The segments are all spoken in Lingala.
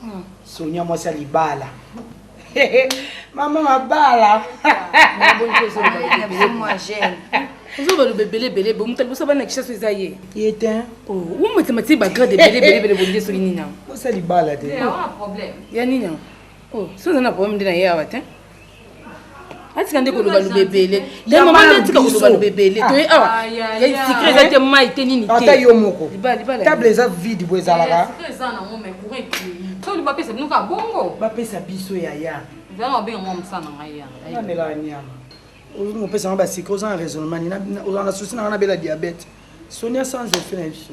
Hmm. Sonia mwasi ya libala. Mama mabala. ozo baloba ebele ebele bo moto aliboso bana kisaso eza ye ye te omatema oh, ti bagrade ebele ebele ebele bonde soki nini yango osa libala te ya nini yango oh, so oza na problème nde na ye awa te atika nde koloba loba ebele ye mama nde atika koloba loba ebele toye awa sikre eza te mai te nini te ata yo moko table eza vide bo ezalaka bapesa biso yaya namelaka nyama olingi kopesa nga basikre oza na raisonnement nini oza na susi nanga nabela diabete sonia sans effet na biso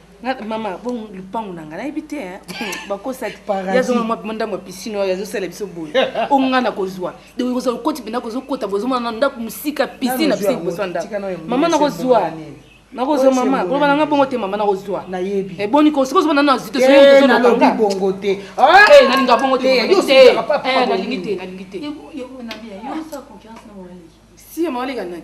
mama bongo lupangu na ngai nayebi te eh. bakosaki yazonga mwa mpima ndambo ya pisine oyo azosala biso boye o ngai nakozwa donc kozala okoti mpenza kozokota bozomona na ndako mosika pisine na biso liboso ya ndako mama nakozwa nakozwa mama koloba na ngai bongo te mama nakozwa nayebi eboni eh, ko soki ozomona na zito soyozonalobi bongo te ah! eh, nalinga bongo te nalingi te nalingi te si mama oleka nani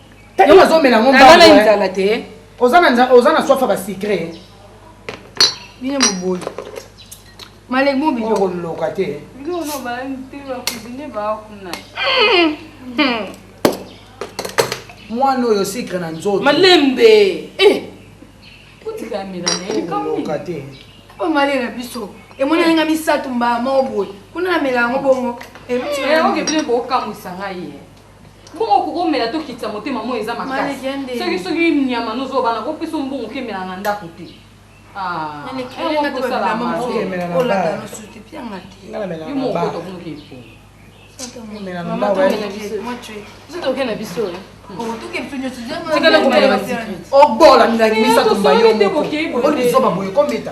Yo ozomela ngo mbangu. Nana nzala te. Oza na nzala, oza na soif ba secret. Bino boboyi. Malek mo bino ko loka te. Bino no ba nte ba cuisine ba kuna. Mwana oyo secret na nzoto. Malembe. Eh. Kuti kamera na ye kamwe. Loka te. Ba male na biso. Emoni nga misato mba mo boye. Kuna na mela ngo bongo. Eh, eh, oke bino ko kamwisa ngai. mbongo okoki omela tokitisa motema moi eza makasi soki soki nyama nozobana kopesa mbongo okemela na ndako te oke na biso obola milangi misato mbayo moko olizoba boye kometa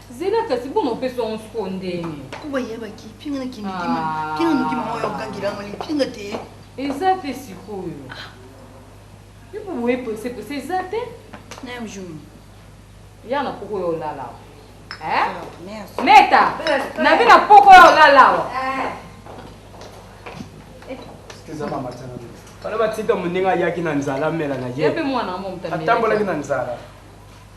zela kasi boma mpe songo sikoyo ndenge po bayebaki mpe nga nakimikima mpe nga nokima oyo okangela yango lipi nga te eza te sikoyo yo mpo boye prese prese eza te nayo jour ya na poko yo olala eh? meta nabi na poko yo olala awa bana batika moninga ayaki na nzala amela na ye atambolaki na nzala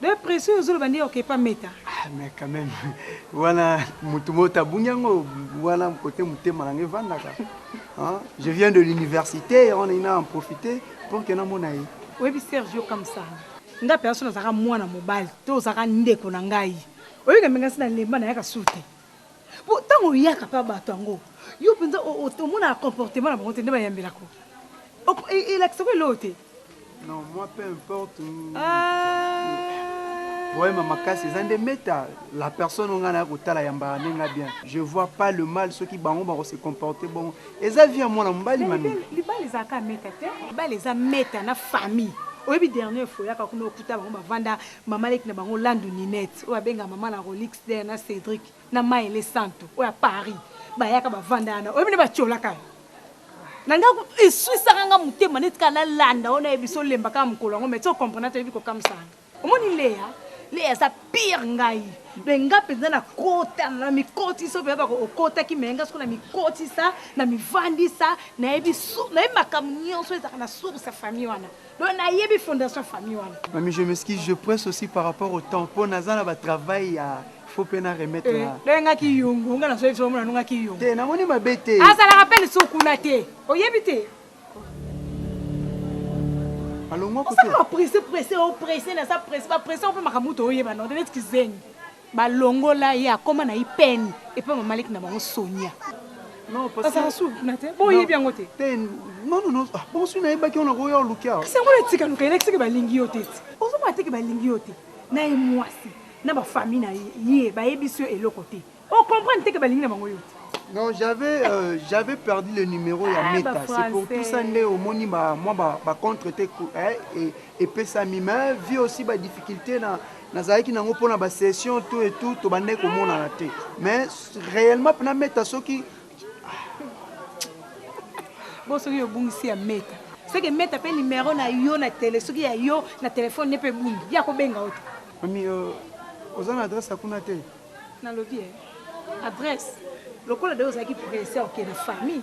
Be presse oyo ozoloba nde oke epa meta. Ah mais quand même wana mutu moto abungi yango wana kote motema na nga evandaka hein? je viens de l'université yango nalingi na en profiter pour que namona ye oyebi sergio kamsala nga mpenza so nazalaka mwana mobali to ozalaka ndeko na ngai oyebika mpenza nsi nalemba nayaka sur te mpo ntango oyaka mpe bato yango yo mpenza omonaka comportement na bango te nde bayambelako elakisako eloko te Non, moi peu importe. Poème makasi eza nde meta la personne oyo ngai naya kotala ya mbala nde ngai bien je vois pas le mal soki bango bako se comporter bongo eza vie ya mwana mobali mami libala ezalaka meta te libala eza meta na famille oyebi dernière fois oyaka kuna okuta bango bavanda mama leki na bango landu ninette oyo abenga mama na rolix der na cedric na maele santu oyo ya paris bayaka bavanda yana oyebi nde batiolaka yo na nga eswisaka nga motema neti kaka nalanda oyo nayebi so olemba kaka mokolo yango meti okomprena toyebi kokamwisaka omoni leya leya aza pire ngai me nga mpenza nakota na mikoti so mpenza bako okotaki me nga soko na mikotisa na mivandisa nayebi nayebi makambo nyonso ezalaka na source ya famille wana Donc nayebi fondation famille wana. Mami je m'excuse, je presse aussi par rapport au temps po naza na ba travail ya faut pe na remettre na. Eh, donc nga ki yongo, nga na soyi somo na nga ki yongo. Te na moni mabe te. Azala rappel sou kuna te. Oyebi te. Alongwa ko te. Osa presse presse o presse na sa presse ba presse o pe makamuto oyeba na. Dele tkizengi. Ba longola ye akoma na IPN epa mama leki na bango Sonia. Non parce que azalaka suka kuna te bo yebi yango te? Te non non non bongo soki na yebaki wana okoya oluki awa. Kasi yango na tika luka elakisi ke ba lingi yo te ti. Ozo mona te ke ba lingi yo te na ye muasi na ba famille na ye ba yebisi yo eloko te o comprendre te ke ba lingi na bango yo te. Non j'avais j'avais perdu le numero ya Meta c'est pour tout ça nde omoni ba mua ba contre te epesami mais vie aussi ba difficulte na Nazalaki na yango pona ba session tout et tout tobandaki komonana te mais reellement pena meta soki bo soki obungisi ya meta soki emeta mpe nimero na yo na tele soki ya yo na telefone ne mpe ebungi ye akobenga yo te mami euh, oza na adresse ya kuna te nalobi e eh, adresse lokola de ozalaki presse okende famille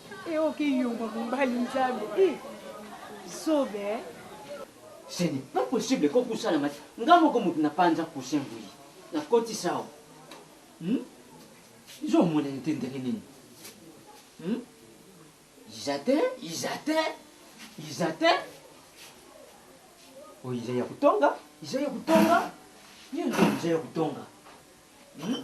Eh ok yomba mobali nzambe eh zoba eh. Ce n'est pas possible ko kusana mati nga moko mutu na panza coussin boye na koti sao hmm? zo mona nte ndenge nini hmm? izatin izatin izatin oyo iza ya kutonga iza ya kutonga nini iza ya kutonga hmm?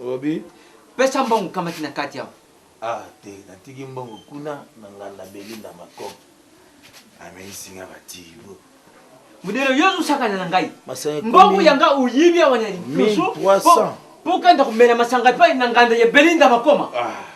Olobi pesa mbongo kamati na kati awa. Ah te natiki mbongo kuna na nganda Belinda mako ameyisi nga ba tibo. Modero yo ozosakana na ngai. Mbongo ya nga oyibi awa na liboso. 1300. Po okenda komela masanga epai na nganda ya Belinda makoma. Ah.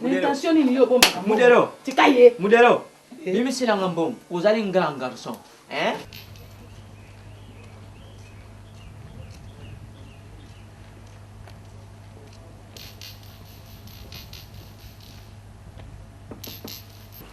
Na intention nini yo obombaka mbongo? Modero. Tika ye. Modero. Bimisela nga mbongo. Ozali grand garçon. Hein?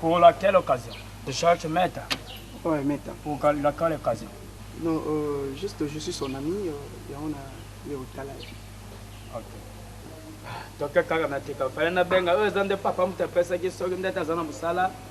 Pour laquelle occasion Tu cherches Meta Ouais, Meta. Pour laquelle occasion Non, euh, juste je suis son ami, euh, et on a eu au talent. Ok. toke kaka na tika fale na benga oyo eza nde papa moto apesaki soki ndete aza na mosala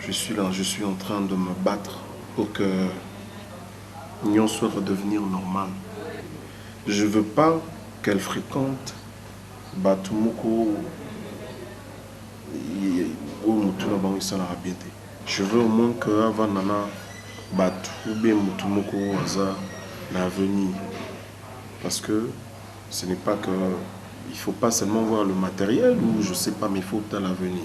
je suis là je suis en train de me battre pour que nionso redevenir normal je veux pas qu'elle frequente batu moko oyo mutu na bango esalaka bien te je veux au moins que avanda na batu ou bien mutu moko oyo aza na avenir parce que ce n'est pas que il faut pas seulement voir le matériel ou je sais pas mais il faut otala avenir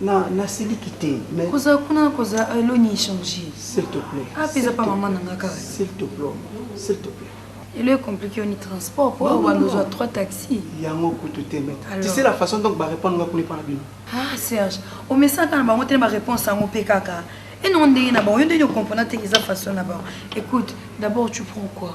Na na siliki te mais koza kuna koza elo ni changer. S'il te plaît. Ah pesa pa maman nanga kaka. S'il te plaît. S'il te plaît. Elo est compliqué on transport pour avoir besoin trois taxis. Yango kutu te mais. Tu sais la façon donc ba répondre nga kuna par bino. Ah Serge, au message na bango te ba réponse yango pe kaka. Et non ndenge na bango, yo ndenge comprendre te eza façon na bango. Écoute, d'abord tu prends quoi?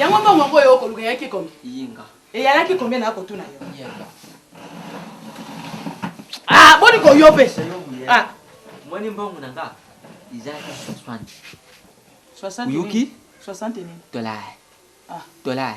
Yango mbongo yango oyo okoluka eyaki combien? Yinga. Eyalaki combien na kotuna yo? Yinga. Ah, boni ko yo pe? Ah. Moni mbongo na nga izalaki 60. 60 oyoki? 60 nini? Dollar. Ah. Dollar.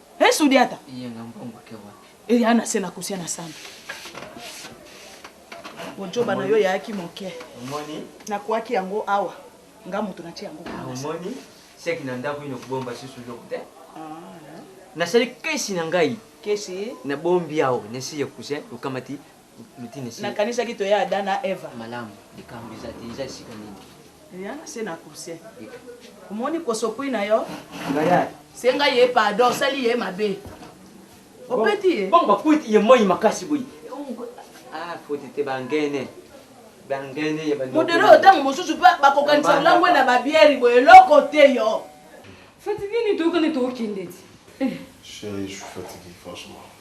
He Sudiata. Iye nga mbongo ake wapi? Eya ana se na kusia na samba. Bojoba na yo yaaki moke. Omoni? Nakuaki yango awa. Nga moto natie yango. Omoni? Seki na ndako ino kobomba susu eloko te. Nasali kesi na ngai. Kesi? Nabombi awa nesi ya kusia okamati. Nakanisaki toya Adam na Eva. Malamu, likambo eza te. Eza esika nini? Eya na se na coussin. Omoni kosokwi na yo? Senga ye pardon, osali ye mabe. Opeti ye? Bongo bakwiti ye moi makasi boye. Ah, foti te bangene. Bangene ya bangene. Modero oyo ntango mosusu mpe bakokanisa olangwe na babiere boye eloko te yo. Fatigué nini toyokani tokokende ti. Chérie, je suis fatigué franchement.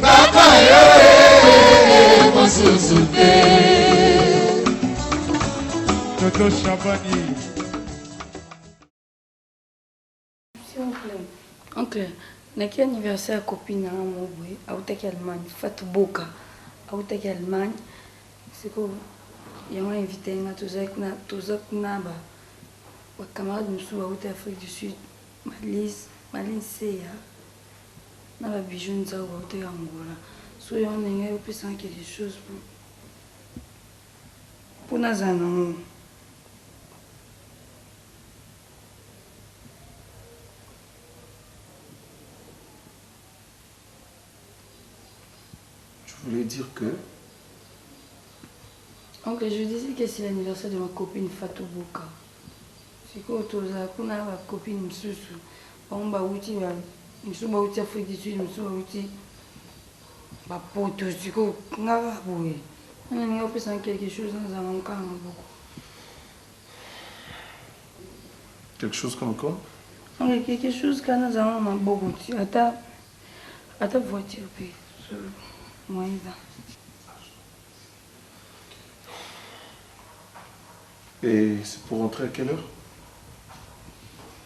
Papa yo eh, mosusu te. Toto Shabani. Oncle, naki anniversaire ya copine na nga moko boye autaki allemagne fatu boka autaki allemagne sikoyo yango ainvite nga tozali kuna toza kuna ba bacamarade mosusu bauta afrique du sud malise malise ya na ba bijoux nzau bauta ya angola soki yango ndenge yo pesa nga quelque chose po po nazala na ngo tu voulais dire que donc je disais que c'est l'anniversaire de ma copine fatou boka sikoyo tozala kuna na ba copine mosusu Bango bawuti ba mosusu bawuti Afrique du Sud, mosusu bawuti bapoto sikoyo nga kaka boye wana ninga opesa quelque chose nazala na mokala maboko quelque chose comme quoi oui, quelque chose kana nazala na maboko ti ata ata voiture mpe moyen eza Et c'est pour rentrer à quelle heure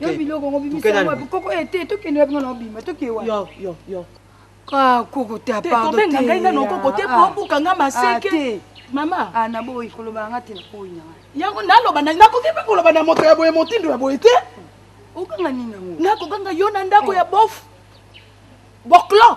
yo biloko yango bimisa wapi koko e te tokende wapi nga na obima toke wapi yo yo yo kakoko te apardotobenganga ngai nga nokoko te po obuka nga maseke mama naboyi kolobaka nga te nakoyi na ngai yango naloba nakoki mpe koloba na moto ya boye motindo ya boye te okanga nini yango nakokanga yo na ndako ya bof boclan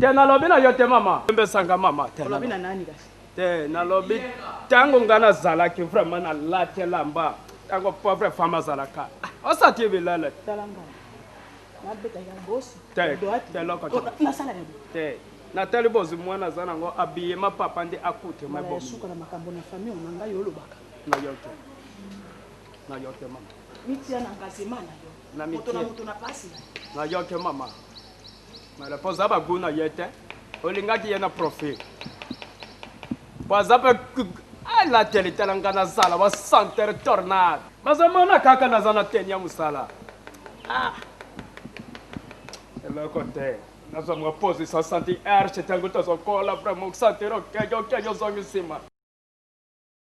Te nalobi na yo te mama. Yembesanga mama te. Olobi na nani kasi? Te nalobi tango nga nazalaki vraiment na lati elamba tango pauvre femme azalaka ah, osati bilala te natali bozwi mwana aza nango abiye ma papa nde akute mabosuka na makambo na famille na ngai olobaka na yo te na yo te mama mitia na engagement na yo moto na moto na pasi na yo te mama Mala po oza ba gout na ye te. Olingaki ye na profil. Po aza pe ah la tele tala nga na zala wa senteur tornade. Bazo mona kaka naza na tenue ya musala. Ah. Eloko te. Nazo mwa pose sa senti erche tango tozo kola vraiment sentir okenge okenge ozongi sima.